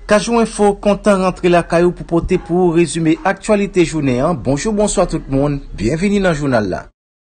Kajou Info kontan rantre lakay ou pou pote pou ou rezime aktyalite jounen an. Bonjou, bonswa tout moun. Byenvini nan jounal la.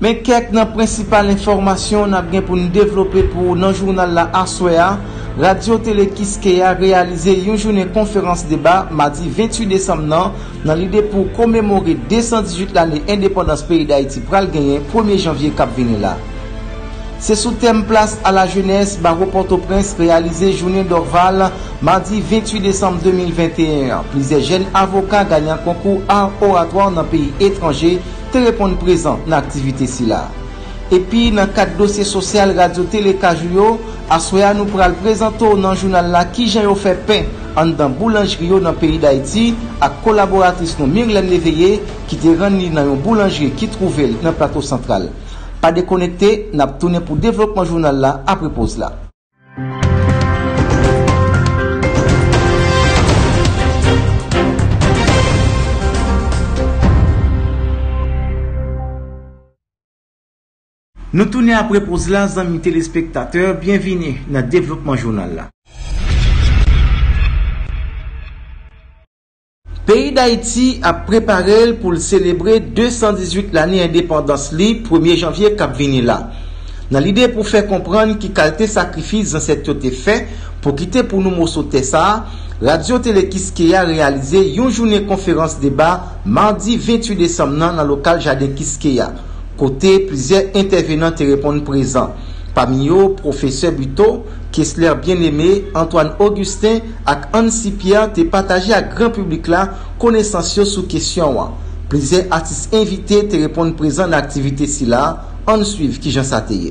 Men kèk nan prensipal enfòmasyon n ap gen pou n devlope pou ou nan jounal la aswè a, Radyo Tele Kiskeya reyalize yon jounen konferans deba madi 28 desanm nan, nan lide pou komemore 218 lane endepandans peyi Dayiti pral genyen premye janvye k ap vini la. Se sou tèm Place à la jeunesse, Bawo Pòtoprens reyalize jounen Dorval madi 28 desanm 2021 an, plizyè jèn avoka ganyan konkou Art Oratoire nan peyi etranje, te reponn prezan nan aktivite sila. Epi nan kad dosye sosyal Radyo Tele Kajou yo, aswè a nou pral prezante w nan jounal la kijan yo fè pen anndan boulanjri yo nan peyi Dayiti ak kolaboratris nou Mirlène Léveillé ki te rann li nan yon boulanjri ki twouve l nan Plato Santral. Pa dekonekte, n ap tounen pou devlopman jounal la apre poz la. Nou tounen apre poz la zanmi telespektatè, byenvini nan devlopman jounal la. Peyi Dayiti ap prepare l pou l selebre 218 lane endepandans li premye janvye k ap vini la. Nan lide pou fè konprann ki kalte sakrifis zansèt yo te fè pou kite pou nou moso tè sa, Radyo Tele Kiskeya reyalize yon jounen konferans deba madi 28 desanm nan nan lokal Jaden Kiskeya, kote plizyè entèvenan te reponn prezan. Pami yo, Pwofesè Buteau, Kesler Bien-Aimé, Antoine Augustin, ak Annecy Pierre te pataje ak gran piblik la konesans yo sou kesyon an. Plizyè atis envite te reponn prezan nan aktivite sila, ann swiv kijan sa te ye.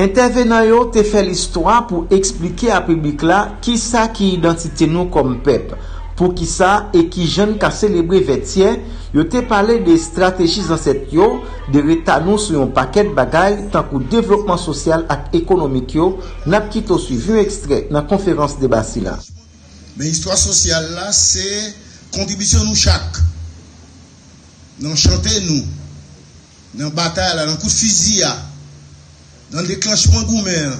Entèvenan yo te fè listwa pou eksplike a piblik la kisa ki idantite nou kòm pèp, poukisa e kijan n ka selebre Vètyè, yo te pale de estrateji zansèt yo, de reta nou sou yon pakèt bagay tankou devlopman sosyal ak ekonomik yo, n ap kite w swiv yon ekstrè nan konferans deba sila. Men istwa sosyal la se kontribisyon nou chak nan chante nou. Nan batay la, nan kout fizi a, nan deklanchman goumen an,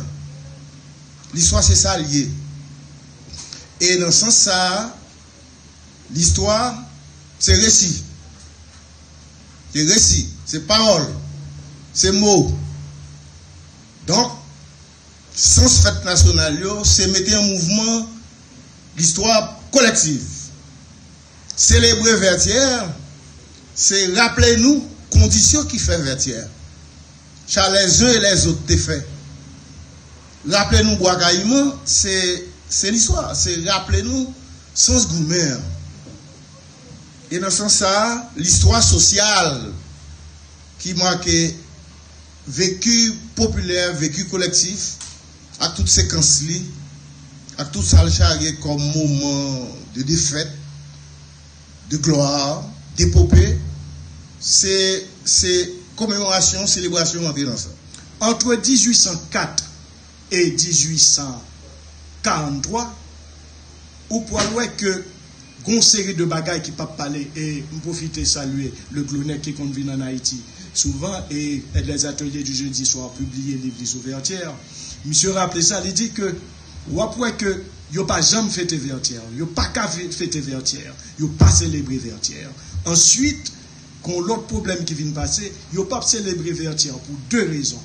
listwa se sa l ye. E nan sans sa a, listwa se resi. Se resi, se pawòl, se mo. Donk, sans fèt nasyonal yo se mete an mouvman listwa kolektiv. Selebre Vètyè, se raple nou kondisyon ki fè Vètyè cha lèzun e lèzot te fè. Raple nou Bwa Kayiman, se se listwa, se raple nou sans goumen an. E nan sans sa a, listwa sosyal ki make vecu popilè, vecu kolektif ak tout sekans li, ak tout sa l charye kòm moman de defèt, de glwa, depope, se, se komemorasyon, selebrasyon rantre nan sa. Antre 1804 e 1843, ou pral wè ke. Gon seri de bagay ki pap pale e m pwofite salye Leglonè ki konn vin an Ayiti souvan e Aide Les Ateliers du Jeudi Soir pibliye liv li sou Vètyè. Misye raple sa, li di ke w ap wè ke yo pa janm fete Vètyè, yo pa ka fete Vètyè, yo pa selebre Vètyè. Answit, gon lòt pwoblèm ki vin pase, yo pap selebre Vètyè pou de rezon.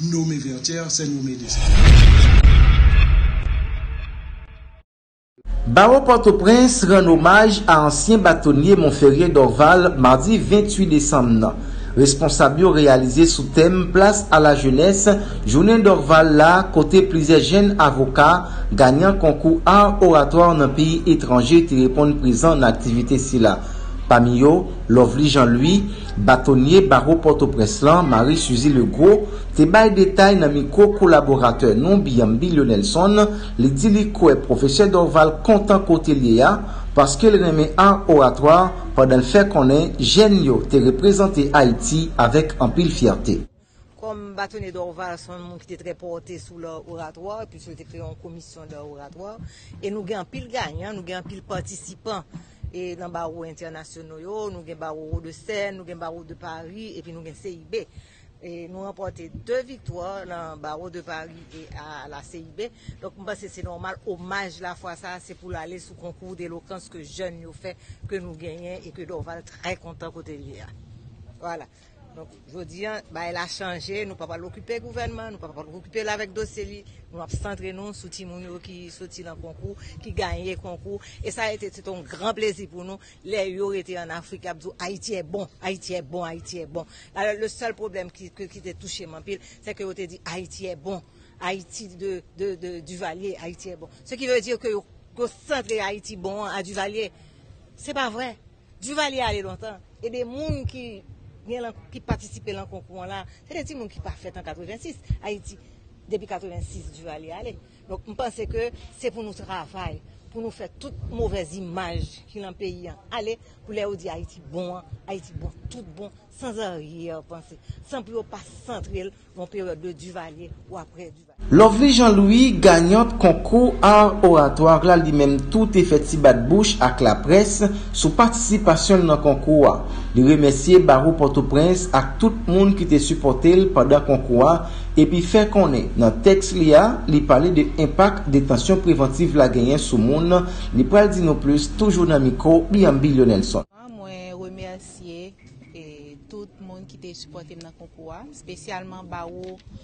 nome Verter, se nome Dessalines. Bawo Pòtoprens rann omaj a ansyen batonye Monferrier Dorval madi 28 desanm nan. Responsab yo reyalize sou tèm Place à la jeunesse jounen Dorval la kote plizyè jenn avoka, ganyan konkou Art Oratoire nan peyi etranje te reponn prezan nan aktivite sila. Pami yo, Lovely Jean Louis, Batonye Bawo Pòtoprens lan, Marie Suzy Legros, te bay detay nan mikwo kolaboratè nou Biambilio Nelson, li di li kwè Pwofesè Dorval kontan kote l ye a, paske l renmen art oratoire pandan l fè konnen jèn yo te reprezante Ayiti avèk anpil fyète. Kòm Batonye Dorval se yon moun ki te trè pòte sou lè oratwa, epi sou yo te kreye yon komisyon lè oratwa, e nou gen anpil ganyan, nou gen anpil patisipan e nan bawo entènasyono yo, nou gen bawo Wodesèn, nou gen bawo de Pari, epi nou gen CIB. E nou ranpòte 2 viktwa nan bawo de Pari e a la CIB. Donk m panse se nòmal omaj la fwa sa a se pou l ale sou konkou delokans ke jèn yo fè, ke nou genyen e ke Dorval trè kontan kote l ye a. Vwala. Donk jodi an bagay la chanje nou pa pral okipe gouvènman, nou pa pral okipe l avèk dosye li, nou ap santre nou sou timoun yo ki soti nan konkou, ki gaye konkou e sa rete se te yon gran plezi pou nou lè yo rete an Afrik y ap di w Ayiti è bon, Ayiti è bon, Ayiti è bon. Alò le sèl pwoblèm ki te touche m anpil se ke yo te di Ayiti è bon, Ayiti de Duvalier, Ayiti è bon. Se ki vle di ke yo santre Ayiti bon an a Duvalier. Se pa vre. Duvalier ale lontan ebe moun ki gen lan ki patisipe lan konkou an la se de ti moun ki pa fèt an 86 ayiti depi 86 Duvalier ale donk m panse ke se pou nou travay pou nou fè tout movèz imaj ki lan peyi an ale pou lè yo di ayiti bon an ayiti bon tout bon san arrière pensée san pou yo pa santre l lan peryòd de Duvalier ou aprè Lovely Jean Louis, ganyant konkou Art Oratoire la li menm tou te fè ti bat bouch ak laprès sou patisipasyon l nan konkou a. Li remèsye Bawo Pòtoprens ak tout moun ki te sipòte l pandan konkou a epi fè konnen nan tèks li a li pale de enpak detansyon prevantiv la genyen sou moun li pral di nou plis toujou nan mikwo Biamby Lionelson. Mwen remèsye tout moun ki te sipòte m nan konkou a, spesyalman Bawo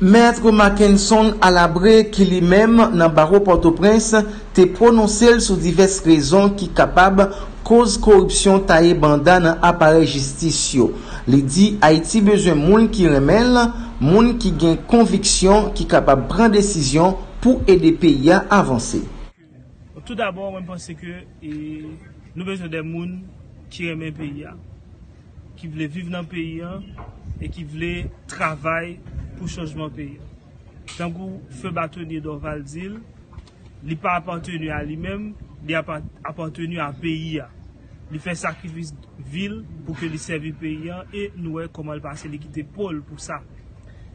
Maître Mackenson Alabre ki li menm nan Bawo Pòtoprens te pwononse l sou divès rezon ki kapab koz koripsyon taye banda nan aparèy jistis yo. Li di Ayiti bezwen moun ki renmen l, moun ki gen konviksyon ki kapab pran desizyon pou ede peyi a avanse. Tout dabò mwen panse ke nou bezwen de moun ki renmen peyi a, ki vle viv nan peyi a e ki vle travay pou chanjman peyi a. Tankou feu Batonye Dòval di l, li pa apateni a li menm, li apateni a peyi a. Li fè sakrifis vi l pou ke li sèvi peyi an e nou wè kòman l pase li kite po l pou sa.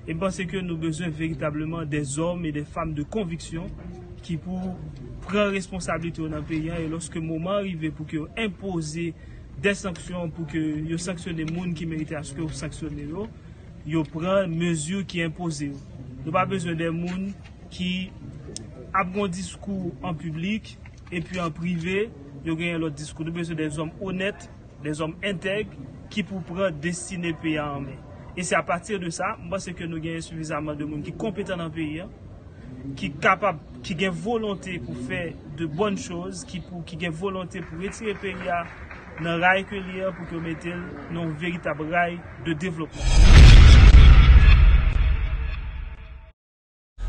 E m panse ke nou bezwen veritableman dè zòm e dè fam de konviksyon ki pou pran responsablite yo nan peyi an e lòske moman an rive pou ke yo enpoze dè sanksyon pou ke yo sanksyone moun ki merite aske yo sanksyone yo, yo pran mezi ki enpoze yo. Nou pa bezwen dè moun ki ap gen yon diskou an piblik. Epi an prive, yo genyen lòt diskou. Nou bezwen de zòm onèt, de zòm entèg ki pou pran destine peyi a an men. E se apati de sa, m panse ke nou genyen sifizaman de moun ki konpetan nan peyi a, ki kapab, ki gen volonte pou fè de bòn choz, ki pou, ki gen volonte pou retire peyi a nan ray ke li an, pou ke yo mete l nan yon veritab ray de devlopman.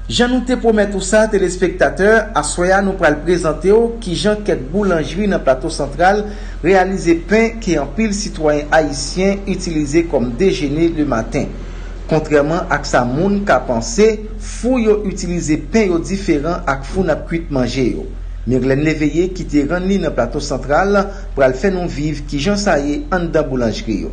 Jan nou te pwomèt ou sa telespektatè, aswè a nou pral prezante w kijan kèk boulanjri nan Plato Santral reyalize pen ke anpil sitwayen ayisyen itilize kòm dejene le maten. Kontrèman ak sa moun ka panse, fou yo itilize pen yo diferan ak fou n ap kuit manje yo. Mirlène Léveillé ki te rann li nan Plato Santral pral fè nou viv kijan sa ye anndan boulanjri yo.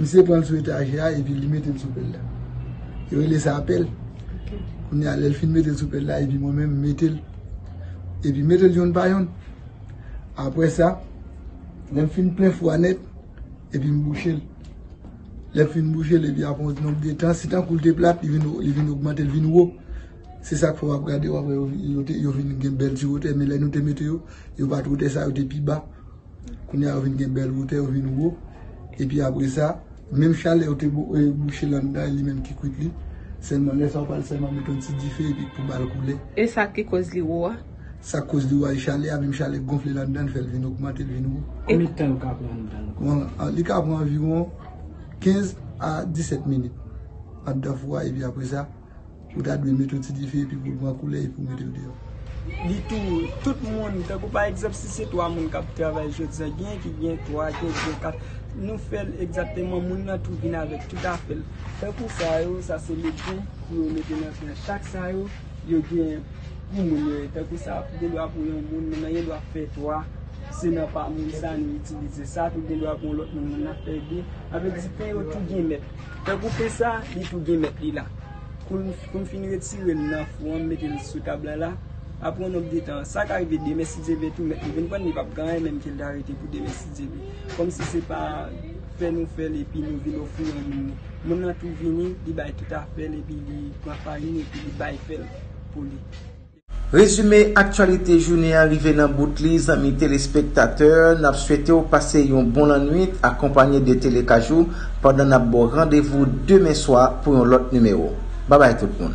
Misye pran l sou etajè a epi li mete l sou pèl la. Yo rele sa pèl. Kounye a lè l fin mete l sou pèl la epi mwen menm m mete l. Epi m mete l yonn pa yonn. Apre sa, lè m fin plen fou a nèt, epi m bouche l. Lè m fin bouche l epi apre yon ti nonb de tan, si tankou l te plat, li vin ogmante, li vin wo. Se sa k fè w ap gade yo apre yo vin gen bèl ti wotè. Men lè nou te mete yo, yo pa t wotè sa, yo te pi ba. Kounye a yo vin gen bèl wotè, yo vin wo. Epi apre sa, menm chalè yo te bouche lan dan e li menm ki kwit li. Sèlman lè sa ou pral sèlman mete yon ti dife epi pou ba l koule. E sa k ki koz li wo a? Sa k koz li wo a e chalè a. Menm chalè gonfle lan dan l fè l vin ogmante, l vin wo. Konbyen tan yo ka pran lan dan yo? Li ka pran anviwon 15 a 17 minit andan fou a epi apre sa. Ou ta dwe mete yon ti dife epi pou l pran koulè epi ou mete l deyò. Li tou, tout moun, tankou pa egzanp si se 3 moun k ap travay jodi a, genyen ki gen 3, genyen ki gen 4, nou fè l egzakteman moun nan tou vin avèk tout afè l. Tankou sa yo, sa se legim pou yo mete nan fè a. Chak sa yo, yo gen pou moun yo ye. Tankou sa, gen dwa pou yon moun, moun nan gen dwa fè 3, se nan pa moun sa nou itilize. Sa tou gen dwa pou yon lòt moun, moun nan fè 2. Sa vle di pen yo tou gen mèt. Nan koupe sa, li tou gen mèt li la. Kou m fin retire l nan fou an, m mete l sou tab la la, apre yon nonb de tan, sa ka rive demen si Dye vle tou, mèt li vin pran l, li p ap gen anyen menm ke l ta rete pou demen si Dye vle. Kòmsi se pa fè nou fè l epi nou vin ofri yon moun li. Moun lan tou vini, li bay tout afè l epi li pran farin epi li bay fè l pou li. Rezime aktyalite jounen an rive nan bout li zanmi telespektatè, nap swete w pase yon bon lannwit akonpanye de Télé Kajou pandan nap ba w randevou demen swa pou yon lòt nimewo. Babay tout moun.